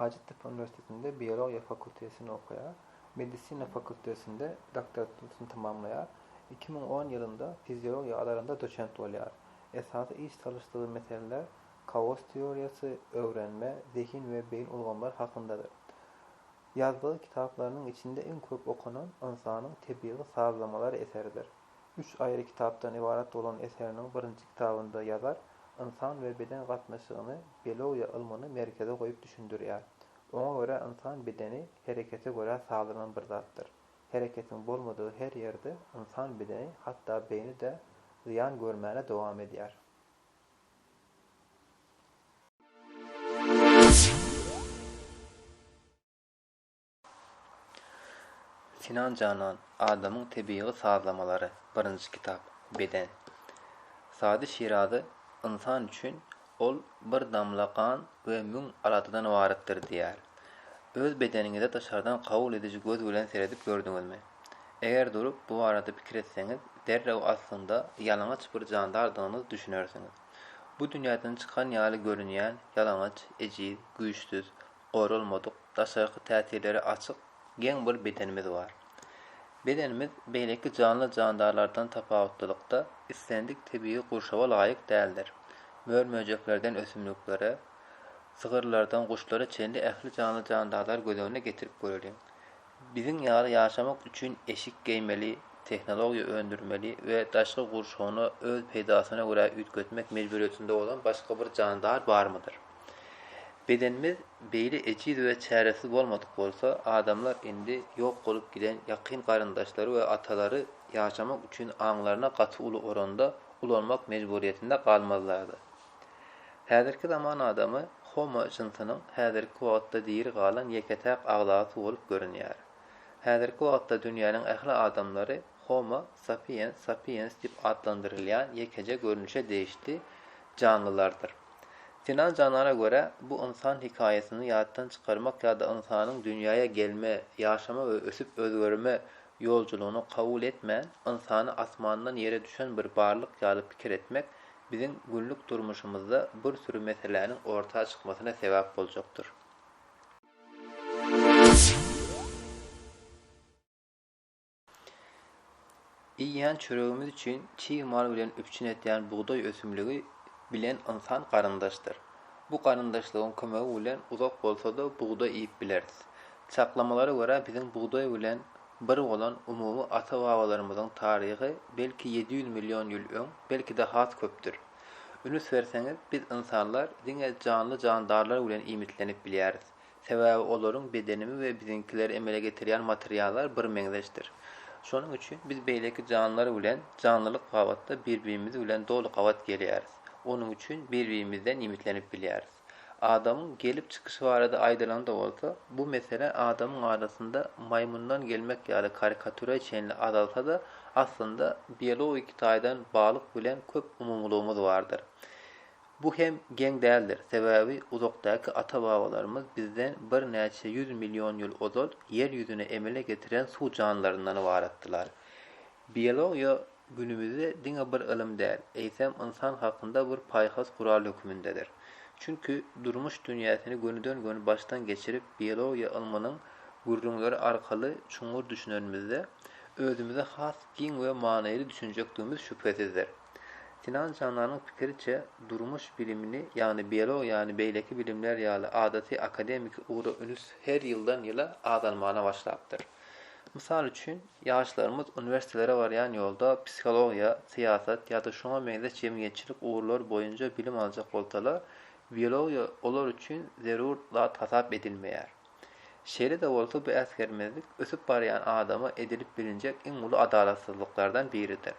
Hajattepe uniwersitetinde biologiýa fakultetini okaýar. Medisina fakultetinde doktoranturyny tamamlaýar. Iki müň on ýylynda fiziologiýa alarynda doçent bolýar. Esasy iş salyşdygy meseleler kaos teoriýasy, öwrenme, zehin we beýin ulgamlary hakyndadyr. Ýazdygy kitaplarynyň içinde iň köp okanan ynsanyň tebigy sazlamalary eseridir. üç aýry kitapdan ybarat bolan eseriniň birinji kitabynda ýazar ynsan we beden gatnaşygyny biologiýa ylmyny merkeze goýup düşündirýär. Oňa görä ynsan bedeni herekete görä sazlanan bir zatdyr. Hereketiň bolmadygy her ýerde ynsan bedeni hatda beýni-de zyýan görmäne dowam edýär. Sinan Janan, Adamyň tebigy sazlamalary, birinji kitap, Beden. Sady Şirazy ynsan üçin ol bir damla gan we müň aladadan ybaratdyr diýýär. Öz bedeniňize daşardan kabul ediji göz bilen seredip gördüňizmi? Eger durup bu barada pikir etseňiz, derrew aslynda ýalaňaç bir jandardygyňyz düşünersiňiz. Bu dünýäden çykan ýaly görünýän ýalaňaç, ejiz, güýçsüz, goralmadyk, daşarky täsirlere açyk, geň bir bedenimiz bar. Bedenimiz beýleki janly-jandarlardan tapawutlylykda islendik tebigy gurşawa laýyk däldir. Mör-möjeklerden ösümliklere, sygyrlardan guşlara çenli ähli janly-jandarlary göz öňüne getirip göreliň. Biziň ýaly ýaşamak üçin eşik geýmeli, tehnologiýa öndürmeli we daşky gurşawyna öz peýdasyna görä üýtgetmek mejburyýetinde bolan başga bir jandar barmydyr? Bedenimiz beýle ejiz we çäresiz bolmadyk bolsa, adamlar indi ýok bolup giden ýakyn garyndaşlary we atalary ýaşamak üçin aňlaryna gaty uly oranda ulanmak mejburyýetinde galmazlardy. Häzirki zaman adamy Homo jynsynyň häzirki wagtda diri galan ýeke-täk agzasy bolup görünýär. Häzirki wagtda dünýäniň ähli adamlary Homo sapiens sapiens diýip atlandyrylýan ýekeje görnüşe degişli janlylardyr. Sinan Janana görä, bu ynsan hekaýasyny ýatdan çykarmak ýa-da ynsanyň dünýäýe gelme, ýaşama we ösüp-özgerme ýoljulygyny kabul etmän, ynsany asmandan ýere düşen bir barlyk ýaly pikir etmek biziň günlük durmuşymyzda bir süri meseläniň orta çykmasyna sebäp boljakdyr. Iýýän çöregimiz üçin çig mal bilen üpjün edýän bugdaý ösümligi bilen ynsan garyndaşdyr. Bu garyndaşlygyň kömegi bilen uzak bolsa-da bugdaý iýip bileris. Çaklamalara görä biziň bugdaý bilen bir bolan umumy ata-babalarymyzyň taryhy belki ýedi ýüz million ýyl öň, belki-de has köpdür. Ünüs berseňiz, biz ynsanlar diňe janly-jandarlar bilen iýmitlenip bilýäris. Sebäbi olaryň bedenimi we biziňkileri emele getirýän materiallar birmeňzeşdir. Şonuň üçin biz beýleki janlar bilen janlylyk babatda bir-birimiz bilen doly gabat gelýäris. Onuň üçin bir-birimizden iýmitlenip bilýäris. Adamyň gelip çykyşy barada aýdylanda bolsa, bu mesele adamyň arasynda maýmyndan gelmek ýaly karikatüre çenli azalsa-da, aslynda biologik taýdan balyk bilen köp umumylygymyz bardyr. Bu hem geň däldir, sebäbi uzakdaky ata-babalarymyz bizden birnäçe ýüz million ýyl ozal Ýer ýüzüne emele getiren suw janlylaryndan ybaratdylar. Biologiýa günümizde diňe bir ylym däl, eýsem ynsan hakynda bir paýhas gural hökümindedir. Çünki durmuş dünýäsini gönüden-göni başdan geçirip biologiýa ylmynyň gürrüňleri arkaly çuňňur düşünenimizde, özümize has giň we manyly düşünjekdigimiz şübhesizdir. Sinan Jananyň pikiriçe, durmuş bilimini, ýagny biologiýany beýleki bilimler ýaly adaty akademiki ugra üns her ýyldan-ýyla azalmana başlapdyr. Mysal üçin, Ýaşlarymyz uniwersitelere barýan ýolda psihologiýa, syýasat ýa-da şoňa meňzeş jemgyýetçilik ugurlary boýunja bilim aljak bolsalar, biologiýa olar üçin zerur zat hasap edilmeýär. Şeýle-de bolsa bu äsgermezlik ösüp barýan adama edilip bilinjek iň uly adalatsyzlyklardan biridir.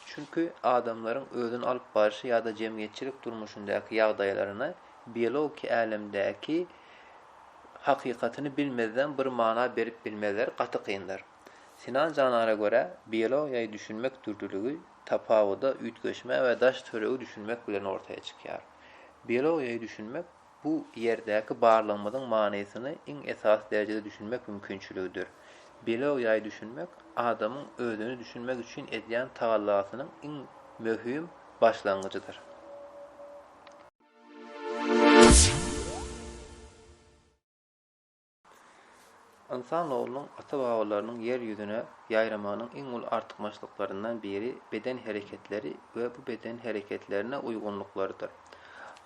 Çünki adamlaryň özüni alyp barşy ýa-da jemgyýetçilik durmuşyndaky ýagdaýlaryny biologiki älemdäki hakykatyny bilmezden bir mana berip bilmezler gaty kyndyr. Sinan Janara görä biologiýaýy düşünmek dürlüligi, tapawuda, üýtgeşmä we daş töregi düşünmek bilen ortaýa çykýar. Biologiýaýy düşünmek bu ýerdäki barlygymyzyň manysyny iň esasy derejede düşünmek mümkinçiligidir. Biologiýaýy düşünmek adamyň özüni düşünmek üçin edýän tagallasynyň iň möhüm başlangyjydyr. Ynsan oglunyň ata-babalarynyň ýer ýüzüne ýaýramagynyň iň uly artykmaçlyklaryndan biri beden hereketleri we bu beden hereketlerine uýgunlyklarydyr.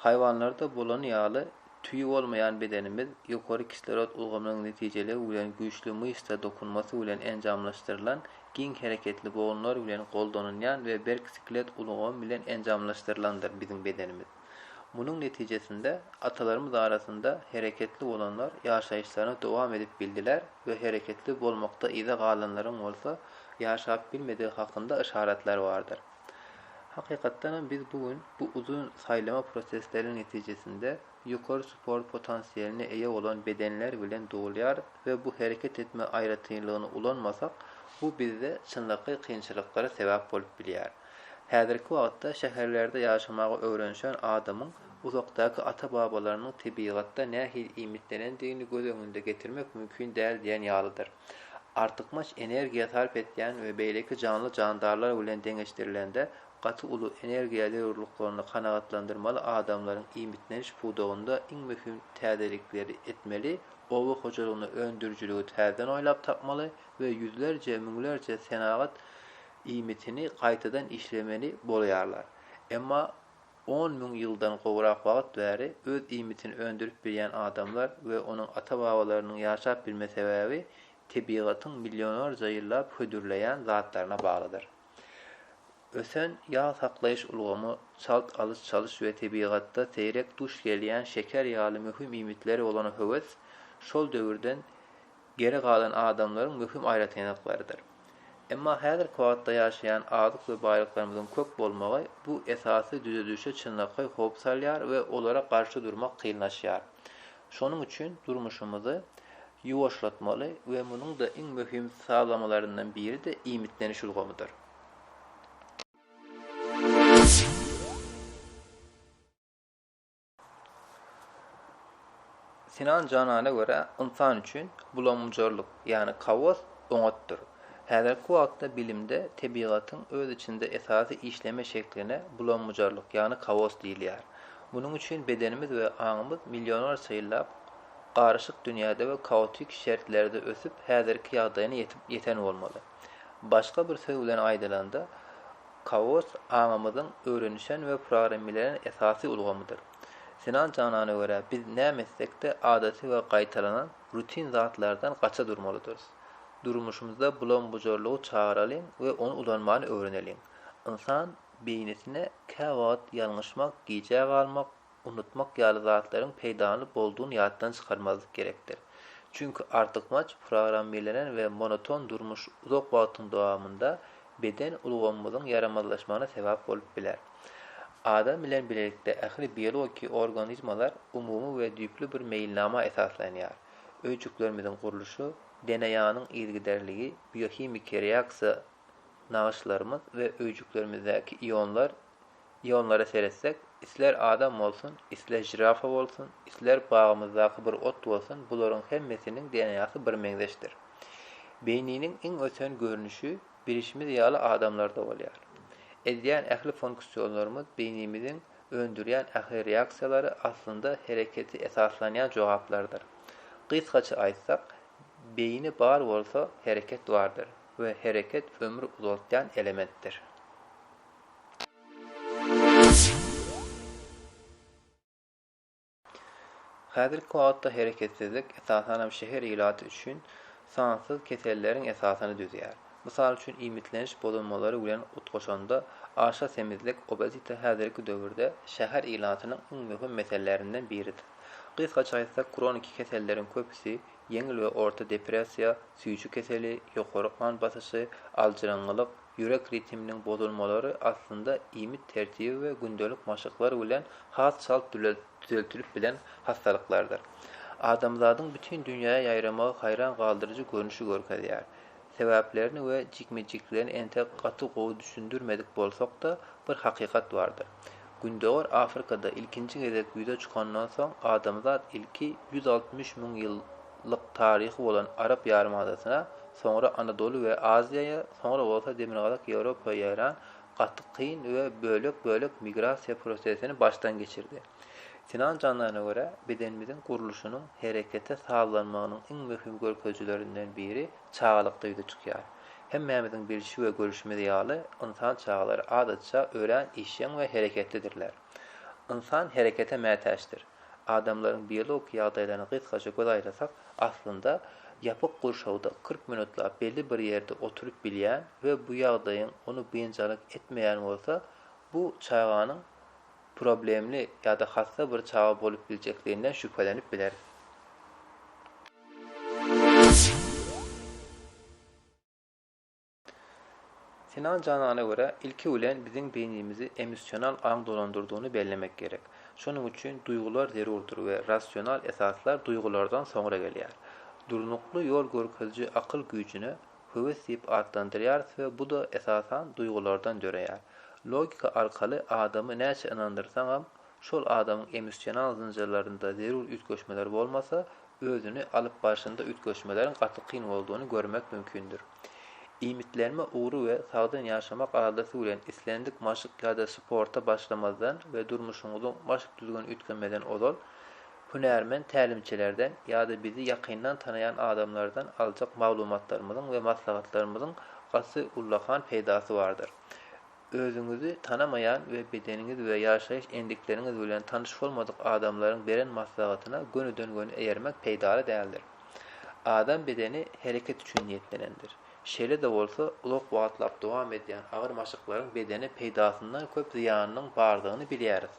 Haýwanlarda bolany ýaly, tüýi bolmaýan bedenimiz ýokary kislorod ulgamynyň netijeligi bilen güýçli myşsa dokunmasy bilen enjamlaşdyrylan giň hereketli bogunlar bilen goldanylýan we berk sklet ulgamy bilen enjamlaşdyrylandyr biziň bedenimiz. Munuň netijesinde atalarymyz arasynda hereketli bolanlar ýaşaýyşlaryny dowam edip bildiler we hereketli bolmakda yza galanlaryň bolsa ýaşap bilmedigi hakynda yşaratlar bardyr. Hakykatdanam biz bu gün bu uzyn saýlama prosesleriniň netijesinde, ýokary sport potansiýeline eýe bolan bedenler bilen dogulýarys we bu hereket etme aýratynlygyny ulanmasak, bu bizde çynlakaý kynçylyklara sebäp bolup bilýär. Häzirki wagtda şäherlerde ýaşamagy öwrenişen adamyň uzakdaky ata-babalarynyň tebigatda nähili iýmitlenendigini göz öňünde getirmek mümkin däl diýen ýalydyr. Artykmaç energiýa sarp etýän we beýleki janly-jandarlar bilen deňeşdirilende, Gaty uly energiýa zerurlyklaryny kanagatlandyrmaly adamlaryň iýmitleniş pudagynda iň möhüm täzelikleri etmeli, oba hojalygynda öndürijiligi täzeden oýlap tapmaly we ýüzlerje, müňlerje senagat iýmitini gaýtadan işlemeli bolaýarlar. Emma on müň ýyldan gowrak wagt bäri öz iýmitini öndürip bilýän adamlar we onuň ata-babalarynyň ýaşap bilme sebäbi tebigatyň millionlarja ýyllap hödürleýän zatlaryna baglydyr. Ösen ýag saklaýyş ulgamy çalt alyş-çalyş we tebigatda seýrek duş gelýän şeker ýaly möhüm iýmitlere bolan höwes şol döwürden geri galan adamlaryň möhüm aýratynlyklarydyr. Emma häzirki wagtda ýaşaýan azyk we baýlyklarymyzyň köp bolmagy bu esasy düzedişe çynlakaý howp salýar we olara garşy durmak kynlaşýar. Şonuň üçin durmuşymyzy ýuwaşlatmaly we munuň-da iň möhüm sazlamalaryndan biri-de iýmitleniş ulgamydyr. Sinan Janana görä, ynsan üçin bulamgujarlyk, ýagny kaos oňatdyr. Häzirki wagtda bilimde tebigatyň öz içinde esasy işleme şekline bulam-bujarlyk, ýagny kaos diýilýär. Munuň üçin bedenimiz we aňymyz millionlarça ýyllap garyşyk dünýäde we kaotik şertlerde ösüp, häzirki ýagdaýyna ýetip ýeten bolmaly. Başga bir söz bilen aýdylanda, kaos aňymyzyň öwrenişen we programmelenen esasy ulgamydyr. Sinan Janana görä, biz näme etsek-de adaty we gaýtalanan, rutin zatlardan gaça durmalydyrys. Durmuşymyzda bulam-bujarlygy çagyralyň we ony ulanmany öwreneliň. Ynsan beýnisine käwagt ýalňyşmak, gijä galmak, unutmak ýaly zatlaryň peýdaly boldugyny ýatdan çykarmazlyk gerekdir. Çünki artykmaç programmirlenen we monoton durmuş uzak wagtyň dowamynda beden ulgamymyzyň ýaramazlaşmagyna sebäp bolup biler. Adam bilen bilelikde ähli biologiki organizmalar umumy we düýpli bir meýilnama esaslanýar. Öýjüklerimiziň gurluşy, DNA-nyň yzygiderligi, biohimiki reaksiýa nagyşlarymyz we öýjüklerimizdäki ionlar Ionlara seretsek, isler adam bolsun, isler žirafa bolsun, isler bagymyzdaky bir ot bolsun, bularyň hemmesiniň DNA-sy birmeňzeşdir. Beýniniň iň ösen görnüşi bilişimiz ýaly adamlarda bolýar. Edýän ähli fonksiýonlarymyz beýnimiziň öndürýän ähli reaksiýalary aslynda hereketi esaslanýan jogaplardyr. Gysgaça aýtsak, beýni bar bolsa hereket bardyr we hereket ömri uzaltýan elementdir. Häzirki wagtda hereketsizlik, esasan hem şäher ilaty üçin sansyz keselleriň esasyny düzýär. Mysal üçin, iýmitleniş bozulmalary bilen utgaşanda, aşa semizlik, obezite, häzirki döwürde şäher ilatynyň iň möhüm meselelerinden biridir. Gysgaça aýtsak, kroniki keselleriň köpüsi, ýeňil we orta depressiýa, süýji keseli, ýokary gan basyşy, aljyraňňylyk, Ýürek ritminiň bozulmalary aslynda iýmit tertibi we gündelik maşklar bilen has çalt düzeltilip bilen hassalyklardyr. Adamzadyň bütin dünýäye ýaýramagy haýran galdyryjy görnüşi görkezýär. Sebäplerini we jikme-jiklerini entek gaty gowy düşündirmedik bolsak-da, bir hakykat bardyr. Gündogar Afrikada ilkinji gezek ýüze çykandan soň, adamzat ilki ýüz altmyş müň ýyllyk taryhy bolan Arap ýarymadasyna, soňra Anadoly we Aziýaýa, soňra bolsa Demirgazyk Ýewropa ýaýran gaty kyn we bölek-bölek migrasiýa prosesini başdan geçirdi. Sinan Janana görä, bedenimiziň gurluşynyň herekete sazlanmagynyň iň möhüm görkezijilerinden biri, Çagalyk duýgy çykýar. Hemmämiziň bilşi we görüşimiz ýaly, ynsan çagalary adatça örän işjeň we hereketlidirler. Ynsan herekete mätäçdir. Adamlaryň biologik ýagdaýlaryna gysgaça göz aýlasak, aslynda, ýapyk gurşawda kyrk minutlap belli bir ýerde oturyp bilýän we bu ýagdaýyň ony biynjalyk etmeýän bolsa, bu çaganyň problemli ýa-da hassa bir çaga bolup biljekliginden şübhelenip bileris. Sinan Janana görä, ilki bilen biziň beýnimizi emissional aň dolandyrdygyny bellemek gerek. Şonuň üçin duýgular zerurdyr we rasional esaslar duýgulardan soňra gelýär. Durnukly ýol görkeziji akyl güýjüne höwes diýip atlandyrýarys we bu-da, esasan, duýgulardan döreýär. Logika arkaly adamy näçe ynandyrsaňam, şol adamyň emissional zynjyrlarynda zerur üýtgeşmeler bolmasa, özüni alyp barşynda üýtgeşmeleriň gaty kyn boldugyny görmek mümkindir. Iýmitlenme ugry we sagdyn ýaşamak aladasy bilen islendik maşk ýa-da sporta başlamazdan we durmuşyňyzyň baş düzgüni üýtgemezden ozal, Hünärmen tälimçilerden ýa-da bizi ýakyndan tanaýan adamlardan aljak maglumatlarymyzyň we maslahatlarymyzyň gaty ullakan peýdasy bardyr. Özüňizi tanamaýan we bedeniňiz we ýaşaýyş endikleriňiz bilen tanyş bolmadyk adamlaryň beren maslahatyna gönüden-göni eýermek peýdaly däldir. Adam bedeni hereket üçin niýetlenendir. Şeýle-de bolsa, uzak wagtlap dowam edýän agyr maşklaryň bedene peýdasyndan köp zyýanynyň bardygyny bilýäris.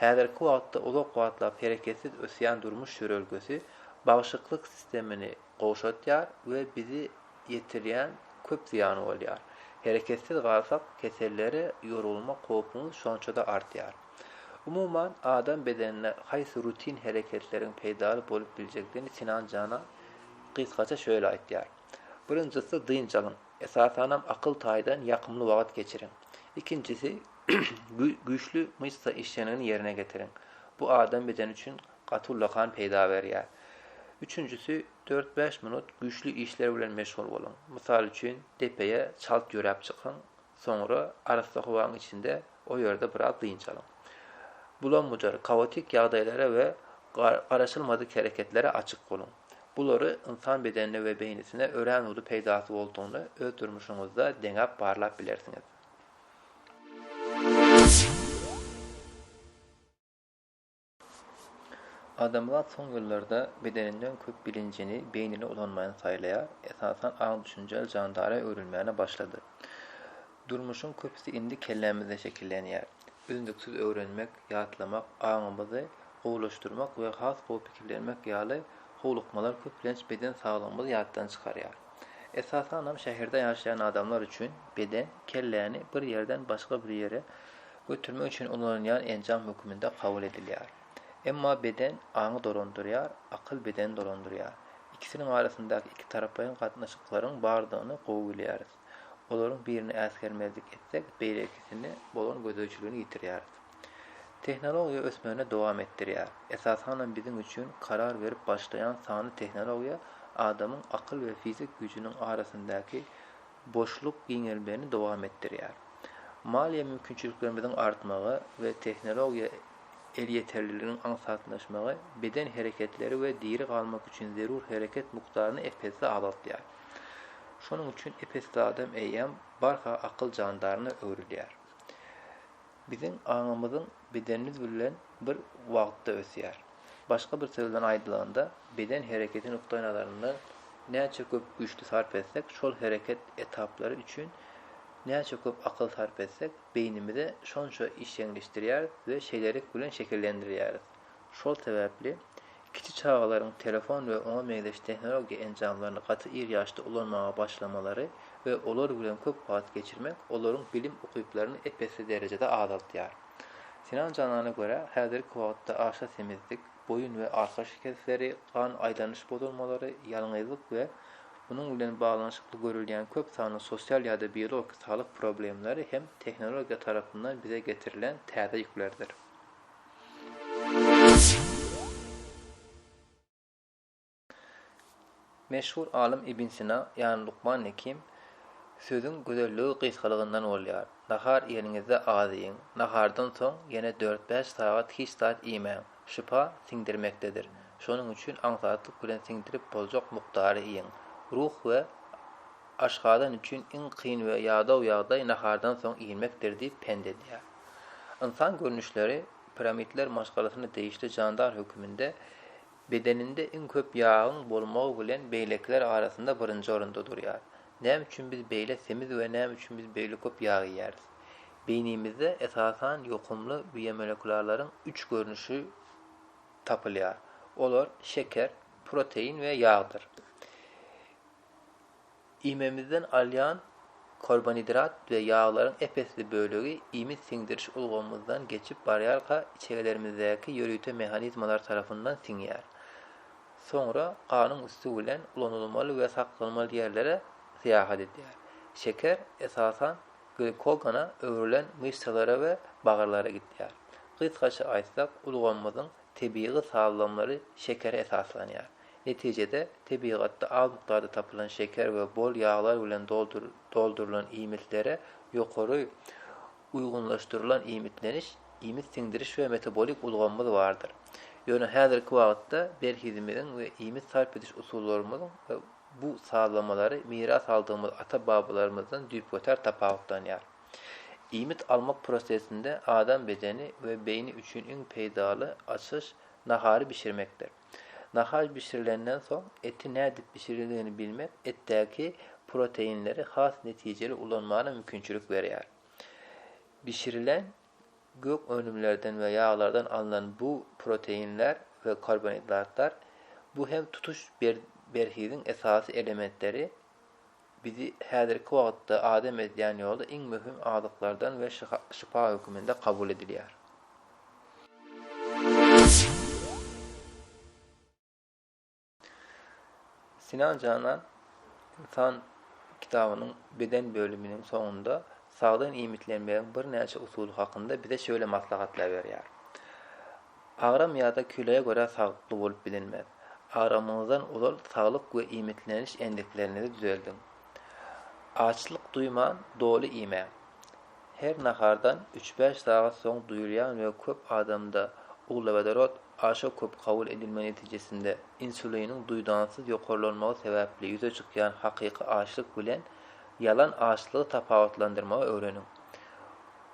Häzirki wagtda uzak wagtlap hereketsiz ösýän durmuş ýörelgesi bagşyklyk sistemini gowşatýar we bizi ýetirýän köp zyýany bolýar. Hereketsiz galsak, kesellere ýolgunmak howpumyz şonça-da artýar. Umuman, adam bedenine haýsy rutin hereketleriň peýdaly bolup biljegdini Sinan Canan gysgaça şöyle aýtýar. Birinjisi dynç alyň, esasanam akyl taýdan ýakymly wagt geçiriň. Ikinjisi güýçli myşsa işjeňligini ýerine getiriň. Bu adam bedeni üçin gaty uly kan peýda berýär. Üçünjisi dört-bäş minut güýçli işler bilen meşgul boluň. Mysal üçin depeýe çalt ýöräp çykyň, Soňra arassa howaň içinde o ýerde biraz dynç alyň. Bulam-bujar, kaotik ýagdaýlara we garaşylmadyk hereketlere açyk boluň. Bulary ynsan bedenine we beýnisine örän uly peýdasy boldugyny öz durmuşyňyzda deňäp barlap bilersiňiz. Adamzat soň ýyllarda bedeninden köp bilinjini beýnini ulanmaýan saýlaýar, esasan aň düşünjäli jandara öwrülmäne başlady. Durmuşyň köpüsi indi kellämizde şekillenýär. Üznüksiz öwrenmek, ýatlamak, aňymyzy gowulaşdyrmak we has gowy pikirlenmek ýaly howlukmalar köplenç beden saglygymyzy ýatdan çykarýar. Esasanam şäherde ýaşaýan adamlar üçin beden, kelläni bir ýerden başga bir ýere Götermek üçin ulanylýan enjam höküminde kabul edilýär. Emma beden aňy dolandyrýar, akyl bedeni dolandyrýar. Ikisiniň arasyndaky ikitaraplaýyn gatnaşyklaryň bardygyny gowy bilýäris. Olaryň birini äsgermezlik etsek, beýlekisini bolan gözegçiligini ýitirýäris. Tehnologiýa ösmegini dowam etdirýär. Esasanam biziň üçin karar berip başlaýan sanly tehnologiýa adamyň akyl we fizik güýjüniň arasyndaky boşluk giňelmegini dowam etdirýär. Maliýe mümkinçiliklerimiziň artmagy we tehnologiýa elýeterliliginiň aňsatlaşmagy beden hereketleri we diri galmak üçin zerur hereket mukdaryny ep-esli azaltýar. Şonuň üçin ep-esli adam eýýäm barha akyl jandaryna öwrülýär. Biziň aňymyzyň bedenimiz bilen bir wagtda ösýär. Başga bir söz bilen aýdylanda, beden hereketi nukdaýnazaryndan näçe köp güýçli sarp etsek, şol hereket etaplary üçin näçe köp akyl sarp etsek, beýnimize şonça işjeňleşdirýäris we şeýlelik bilen şekillendirýäris. Şol sebäpli, kiçi çagalaryň telefon we oňa meňzeş tehnologiýa enjamlaryny gaty ir ýaşda ulanmaga başlamalary we olar bilen köp wagt geçirmek olaryň bilim ukyplaryny ep-esli derejede azaltýar. Sinan Janana görä, häzirki wagtda aşa semizlik, boýun we arka şikesleri, gan aýlanyş bozulmalary, ýalňyzlyk we munuň bilen baglanyşykly görülýän köp sanly sosial ýa-da biologiki saglyk problemleri hem tehnologiýa tarapyndan bize getirilen täze ýüklerdir. Meşhur alym Ibn Sina, ýagny Lukman Hekim, Sözüň gözelligi gysgalygyndan bolýar. Nahar iýeniňizde az iýiň. Nahardan soň ýene dört-bäş sagat hiç zat iýmäň. Şypa siňdirmekdedir. Şonuň üçin aňsatlyk bilen siňdirip boljak mukdary iýiň. Ruh we aşgazan üçin iň kyn we ýadaw ýagdaý nahardan soň iýilmekdir diýip pent edýär. Ynsan görnüşleri piramidler maşgalasyna degişli jandar höküminde bedeninde iň köp ýagyň bolmagy bilen beýlekiler arasynda birinji orunda durýar. Näme üçin biz beýle semiz we näme üçin biz beýle köp ýag iýýäris? Beýnimizde esasan ýokumly biomolekularlaryň üç görnüşi tapylýar. Olar şeker, protein we ýagdyr. Iýmimizden alýan korbanidrat we ýaglaryň ep-esli bölegi iýmit siňdiriş ulgamymyzdan geçip barýarka içegelerimizdäki ýörite mehanizmalar tarapyndan siňýär. Soňra ganyň üsti bilen ulanylmaly we saklanmaly ýerlere syýahat edýär. Şeker, esasan, glikogona öwrülen myşsalara we bagyrlara gidýär. Gysgaça aýtsak, ulgamymyzyň tebigy sazlamlary şekere esaslanýar. Netijede, tebigatda az mukdarda tapylan şeker we bol ýaglar bilen doldurylan iýmitlere ýokary uýgunlaşdyrylan iýmitleniş, iýmit siňdiriş we metabolik ulgamymyz bardyr. Ýöne häzirki wagtda berhizimiziň we iýmit sarp ediş usullarymyzyň bu sazlamalary miras aldygymyz ata-babalarymyzdan düýpgöter tapawutlanýar. Iýmit almak prosesinde adam bedeni we beýni üçin iň peýdaly açyş nahary bişirmekdir. Nahar bişirilenden soň eti nädip bişirildigini bilmek etdäki proteinleri has netijeli ulanmana mümkinçilik berýär. Bişirilen gök önümlerden we ýaglardan alnan bu proteinler we karbonhidratlar, bu hem tutuş berhiziň esasy elementleri, Bizi häzirki wagtda adam edýän ýoly iň möhüm azyklardan we şypa höküminde kabul edilýär. Sinan Janan Ynsan kitabynyň beden bölüminiň soňunda sagdyn iýmitlenmegiň birnäçe usuly hakynda bize şöyle maslahatlar berýär. Agram ýa-da kiloýa görä saglykly bolup bilinmez. Agramyňyzdan ozal saglyk we iýmitleniş endiklerinizi düzeldiň. Açlyk duýman, doly iýmäň. Her nahardan üç-bäş sagat soň duýulýan we köp adamda uglewodorod aşa köp kabul edilmegi netijesinde insuliniň duýdansyz ýokarlanmagy sebäpli ýüze çykýan hakyky açlyk bilen ýalan açlygy tapawutlandyrmagy öwreniň.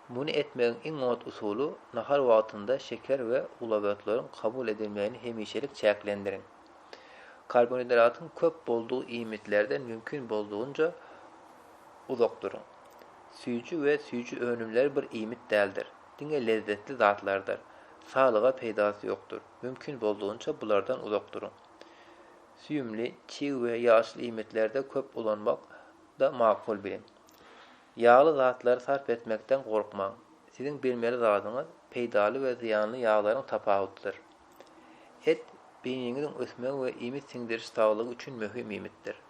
Muny etmegiň iň oňat usuly, nahar wagtynda şeker we uglewoodlaryň kabul edilmegini hemişelik çäklendiriň. Karbonhidratyň köp boldugy iýmitlerden mümkin boldugynca uzak duruň. Süýji we süýji önümleri bir iýmit däldir, diňe lezzetli zatlardyr. Saglyga peýdasy ýokdur. Mümkin boldugynça bulardan uzak duruň. Süýümli, çig we ýaşyl iýmitlerde köp ulanmak-da makul biliň. Ýagly zatlary sarp etmekden gorkmaň. Siziň bilmeli zadyňyz peýdaly we zyýanly ýaglaryň tapawudydyr. Et, beýniňiziň ösmegi we iýmit siňdiriş saglygy üçin möhüm iýmitdir.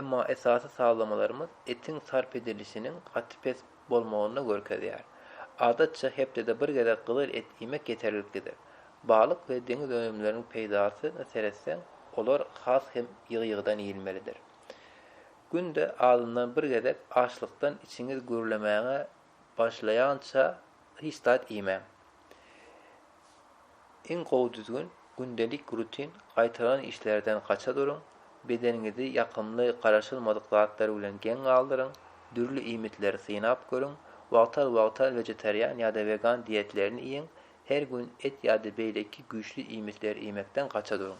Emma esasy sazlamalarymyz etiň sarp edilişiniň gaty pes bolmagyny görkezýär. Adatça, hepdede bir gezek gyzyl et iýmek ýeterliklidir. Balyk we deňiz önümleriniň peýdasyna seretseň, olar has hem ýygy-ýygydan iýilmelidir. Günde azyndan bir gezek açlykdan içiňiz gürlemäge başlaýança hiç zat iýmäň. Iň gowy düzgün, gündelik rutin gaýtalan işlerden gaça duruň, bedeniňizi ýakymly garaşylmadyk zatlar bilen geň galdyryň, dürli iýmitleri synap görüň, wagtal-wagtal wegetarian ýa-da wegan dietlerini iýiň, her gün et ýa-da beýleki güýçli iýmitleri iýmekden gaça duruň.